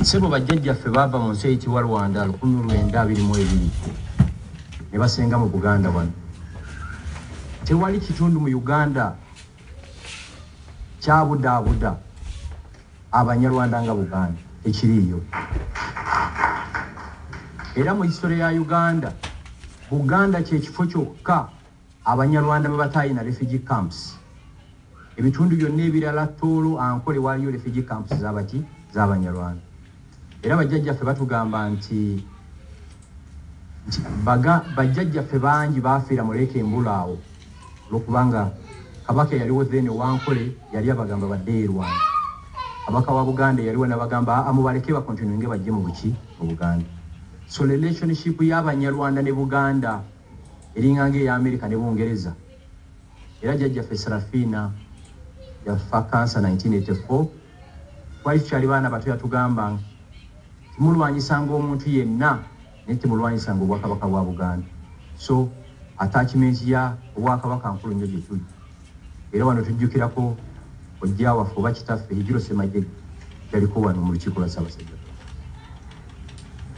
Ssebo bajjajjaffe baava mu nsi eyitibwa Rwanda lukumi lwenda abiri mu ebiri ne basenga mu Buganda wano. Tewali kitundu mu Uganda kyabudaabuda Abanyarwanda nga Buganda ekiriiyo. Era mu history ya Uganda, Buganda kye kifo kyokka. Abanyarwanda bwe bataayina refugee camps, ebitundu byonna ebirala Tooro, Ankole waaliyo refugee camps z'abaki? Z'abanyarwanda. Era bajjajjaffe batugamba nti nti baga bajjajjaffe bangi baafiira mu Lake Mbulu awo olwokubanga Kabaka eyaliwo then ow'Ankole yali abagamba baddeyo e Rwanda. Kabaka wa Buganda eyaliwo n'abagamba aa mubaleke bakontinuinge bajje mu buki? Mu Buganda. So relationship y'Abanyarwanda ne Buganda. eringa nga eya Amerika ne Bungereza era jjajjaffe Seraphina yafa kansa 1984 twali tukyali baana bato yatugamba nti mulwanyisanga omuntu yenna naye temulwanyisanga obwakabaka bwa Buganda so attachment ya obwakabaka nkulu nnyo gye tuli era wano tujjukirako ojja waffe oba kitaffe Hijiro Ssemajege yaliko wano mu lukiiko lwa Ssaabasajja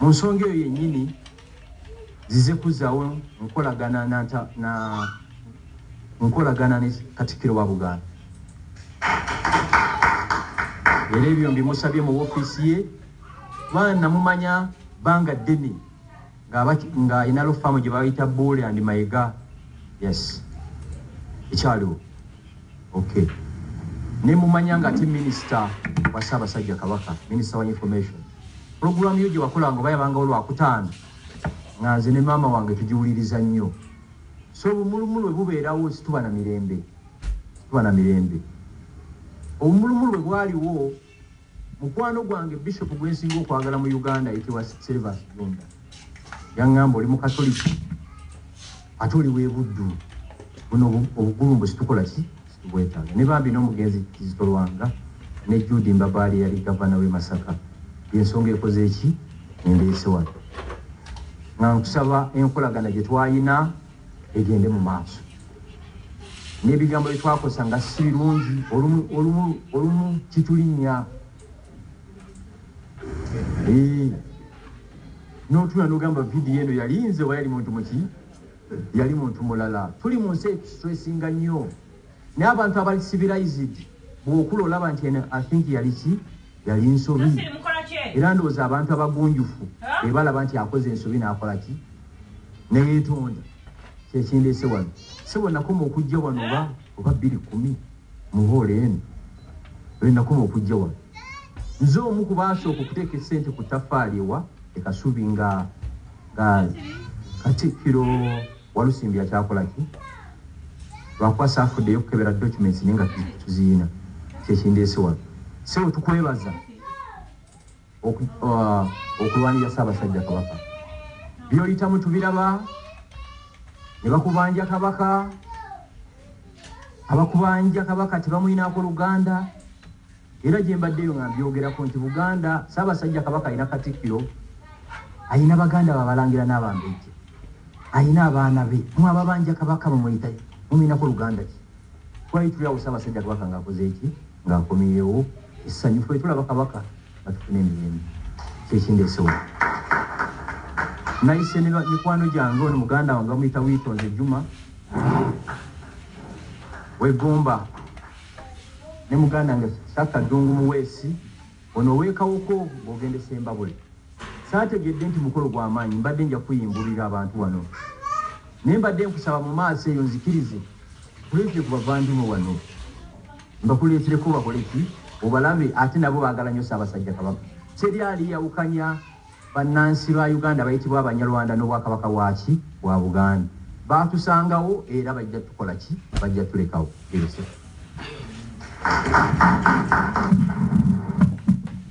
mu nsonga eyo yennyini zize kuzzawo nkolagana na na nkolagana ne Katikkiro wa Buganda era ebyo mbimusabye mu ofiisi ye kubanga namumanya banga ddene nga inalo faamu gye bayita buule and mayega yes ekyaliwo ok ne mumanya nga ate minisita wa ssaabasajja kabaka minisita wa information Pulogulaamu yo gye wakolanga oba yabangawo Lwakutaano nga nze ne maama wange tugiwuliriza nnyo. So obumulumulu bwe bubeerawo situba na mirembe, situba na mirembe. Obumulumulu bwe bwaliwo, mukwano gwange Bishop gwe nsinga okwagala mu Uganda ayitibwa Servus Junda yang'amba oli Mukatoliki ate oli w'e Buddu, buno obugulumbo situkola ki? Bwetanga ne bambi n'omugenzi Kizito Lwanga ne Jude Mbabaali eyali Gavana w'e Masaka ye nsonga ekoze ki endeese wano nga nkusaba enkolagana gye twalina egende mu maaso n'ebigambo bye twakosa nga si birungi olumu kitulinnya n'otula n'ogamba vidiyo eno yali nze oba yali muntu muki Yali muntu mulala. Tuli mu nsi etusitressinga nnyo. Naye abantu abali civilized bw'okula olaba nti eno I think yali ki? Yali nsobi. Era ndowooza abantu abagunjufu be balaba nti akoze ensobi n'akola ki? Ne yeetonda. Kye kindeese wano. Ssebo nakoma okujja wano oba oba bbiri kkumi mu hoola eno. Lwe nakoma okujja wano. Nze omu ku baasooka okuteeka essente ku ttaffaali ewa e Kasubi nga Guy katikkiro walusimbi akyakolaki lwakuba safuddeyo kukebera documents naye nga tuziyina kyekindeese wano sebo tukwebaza uh, okulwanira ssaabasajja kabaka byoyitamu tubiraba ne bakubanja kabaka abakubanja kabaka tebamuyinaako luganda Era gyembadde eyo nga mbyogerako nti Buganda, Ssaabasajja Kabaka alina Katikkiro, alina baganda be Abalangira n'Abambejja, alina abaana be. Mmwe ababanja Kabaka mumuyita ki? Mumulinako luganda ki? Twali tuli awo Ssaabasajja Kabaka ng'akoze ki? Ng'akomyewo essanyu. Ffe tulaba Kabaka nga tufuna emirembe. Kyekindeese wano. Nayise ne mikwano gyange ono muganda wange bamuyita Wiitonze Juma w'e Gomba. ne mugandange Saka Ddungu Muweesi ono ow'e Kawoko ng'ogenda e Ssembabule. Saategedde nti mukolo gwa maanyi mbadde nja kukuyimbululira abantu wano naye mbadde nkusaba mu maaso eyo nzikirize nkuleetere ku bavandimwe wano mbakuleetereko bakole ki obalabe ate nabo baagala nnyo Ssaabasajja Kabaka. Teri aliyawukanya. Bannansi ba Uganda abayitibwa Abanyalwanda n'Obwakabaka bwaki bwa Buganda baatusangawo era bajja tukola ki? Bajja tulekawo.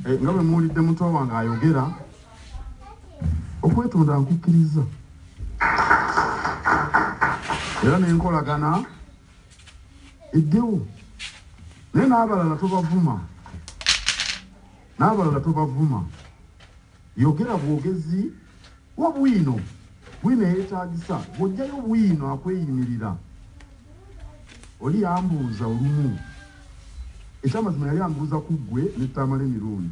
Eh, nga bwe muwulidde muto wange ayogera okwetonda nkukkiriza era nenkolagana eddewo naye n'abalala tobavuma Nabalala tobavuma yogera bwogezi wa bwino bwino eyetagisa bwojjayo bwino akweyimirira oli yambuuza olumu ekyamazima yali ambuuza kuggwe ne Tamale Mirundi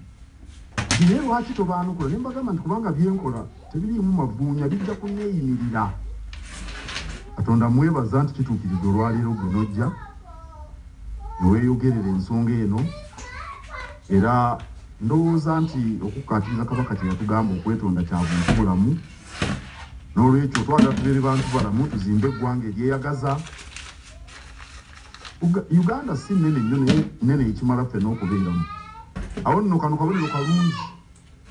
nti naye lwaki tobaanukula ne mbagamba nti kubanga byenkola tebiriimu mavuunya bijja kunneeyimirira Katonda mwebaza nti kituukiriza olwaleero gwe nojja ne weeyogerera ensonga eno era ndowooza nti okukkaatiriza Kabaka kye yatugamba okwetonda kya buntu bulamu n'olwekyo twagala tubeere bantu balamu tuzimbe eggwanga eryeyagaza Uganda si nnene nnyo naye nnene ekimala ffenna okubeeramu awo nno kano kabonero kalungi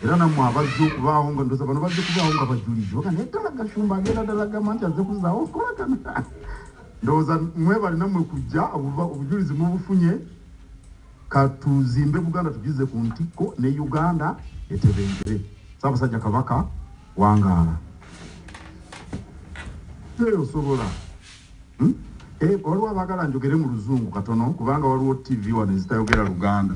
Era nammwe abajja okubaawo nga ndoza bano bajja okubaawo nga bajulizzi baga naye ddala gashumba agenda ddala gamba nti azze kuzaawo okolagana ndowooza mwebale nammwe kujja obujulizi mubufunye katuzimbe buganda tugize ku ntikko ne uganda etebengere saabasajja kabaka wangaala teyosobola hmm? eh, waliwo abagala njogere mu luzungu katono kubanga waliwo tv wano ezitayogera luganda